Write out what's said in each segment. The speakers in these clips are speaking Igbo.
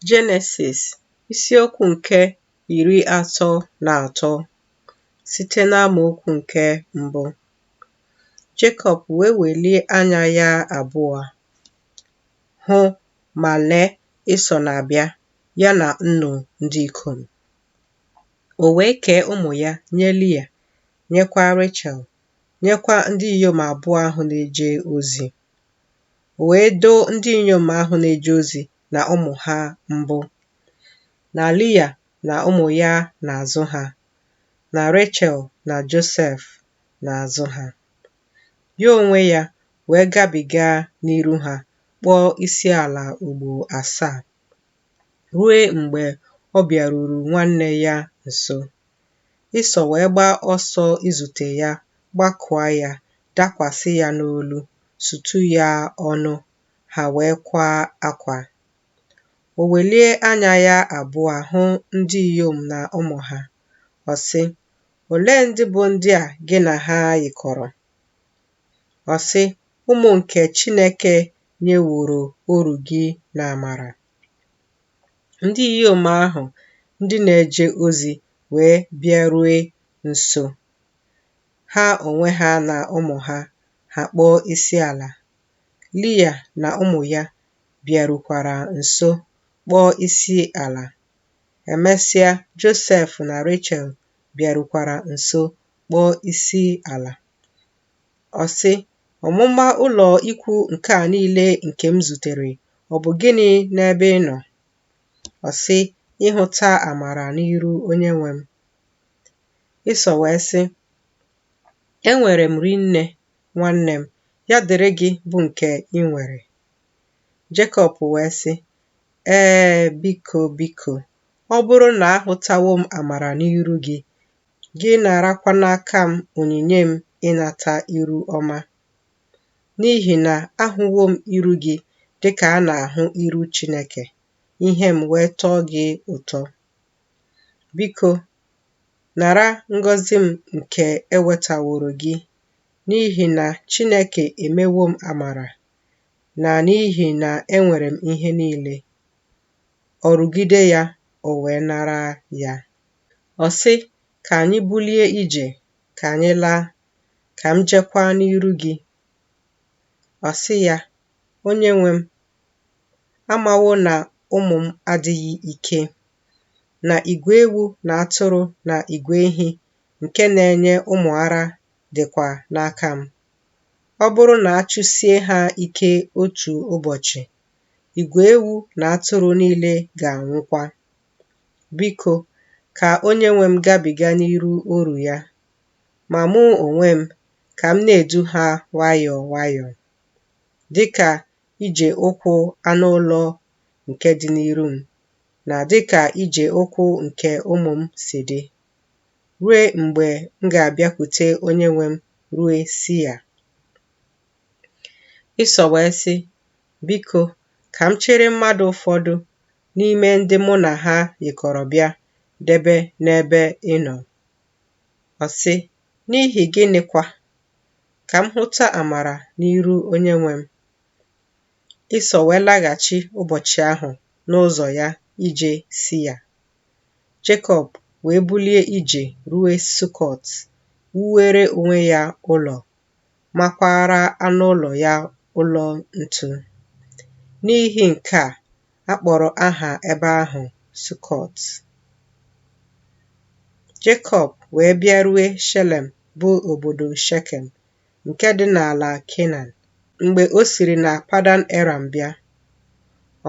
Jenesis isiokwu nke iri atọ na atọ site n'amaokwu nke mbụ. Jekọb wee welie anya ya abụọ hụ ma lee Ịsọ na-abịa ya na nnu ndị ikom. O wee kee ụmụ ya nye Lia, nyekwa Rechel, nyekwa ndị inyom abụọ ahụ na-eje ozi. wee doo ndị inyom ahụ na-eje ozi na ụmụ ha mbụ, na Lia na ụmụ ya n'azụ ha, na Rechel na Josef n'azụ ha. Ya onwe ya wee gabiga n'iru ha kpọọ isiala ugbo asaa. rue mgbe ọ bịaruru nwanne ya nso. Ịsọ wee gbaa ọsọ izute ya, gbakụa ya, dakwasị ya n'olu, sutu ya ọnụ, ha wee kwaa akwa. O welie anya ya abụọ hụ ndị inyom na ụmụ ha. Ọ sị, Olee ndị bụ ndị a gị na ha yikọrọ? Ọ sị, Ụmụ nke Chineke nyeworo oru gị n'amara. Ndị inyom ahụ ndị na-eje ozi wee bịarue nso, ha onwe ha na ụmụ ha, ha kpọọ isiala. Lia na ụmụ ya bịarukwara nso kpọọ isiala. Emesịa, Josef na Rechel bịarukwara nso kpọọ isiala. Ọ sị, Ọmụma ụlọ ikwu nke a niile nke m zutere, ọ bụ gịnị n'ebe ị nọ? Ọ sị, ịhụta amara n'iru onye nwe m. Ịsọ wee sị, enwere m rinne, nwanne m, ya dịrị gị bụ nke ị nwere. Jekọb wee sị, Ee, biko, biko, ọ bụrụ na ahụtawo m amara n'iru gị, Gị narakwa n'aka m onyinye m ịnata iru ọma, n'ihi na ahụwo m iru gị dịka a na-ahụ iru Chineke, ihe m wee tọọ gị ụtọ. Biko, nara ngọzi m nke ewetaworo gị, n'ihi na Chineke emewo m amara, na n'ihi na enwere m ihe niile. Ọ rụgide ya, o wee nara ya. Ọ sị, Ka anyị bulie ije, ka anyị laa, ka m jekwaa n'iru gị. Ọ sị ya, Onye nwe m amawo na ụmụ m adịghị ike, na igwe ewu na atụrụ na igwe ehi nke na-enye ụmụ ara dịkwa n'aka m. Ọ bụrụ na a chụsie ha ike otu ụbọchị, igwe ewu na atụrụ niile ga-anwụkwa. Biko, ka onye nwe m gabiga n'iru oru ya, ma mụ onwe m, ka m na-edu ha nwayọọ nwayọọ, dịka ije ụkwụ anụ ụlọ nke dị n'iru m, na dịka ije ụkwụ nke ụmụ m si dị, rue mgbe m ga-abịakwute onye nwe m rue Sia. Ịsọ wee sị, Biko, ka m chịrị mmadụ ụfọdụ n'ime ndị mụ na ha yikọrọ bịa debe n'ebe ị nọ. Ọ sị, N'ihi gịnịkwa? Ka m hụta amara n'iru onye nwe m. Ịsọ wee laghachi ụbọchị ahụ n'ụzọ ya ije Sia. Jekọb wee bulie ije ruo Sukọt, wuwere onwe ya ụlọ makwaara anụ ụlọ ya ụlọ ntu. N'ihi nke a, a kpọrọ aha ebe ahụ Sukọt. Jekọb wee bịarue Shelem bụ obodo Shekem nke dị n'ala Kenan. Mgbe o siri na Padan Eram bịa,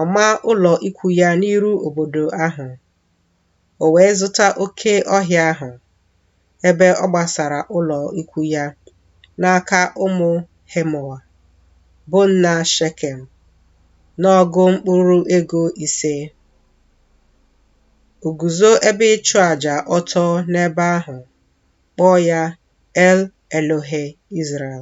ọ maa ụlọ ikwu ya n'iru obodo ahụ. o wee zụta oke ọhịa ahụ ebe ọ gbasara ụlọ ikwu ya n'aka ụmụ Hemọa, bụ nna Shekem, n'ọgụ mkpụrụ ego ise. O guzo ebe ịchụ aja ọtọ n'ebe ahụ, kpọọ ya El Elohe Izrel.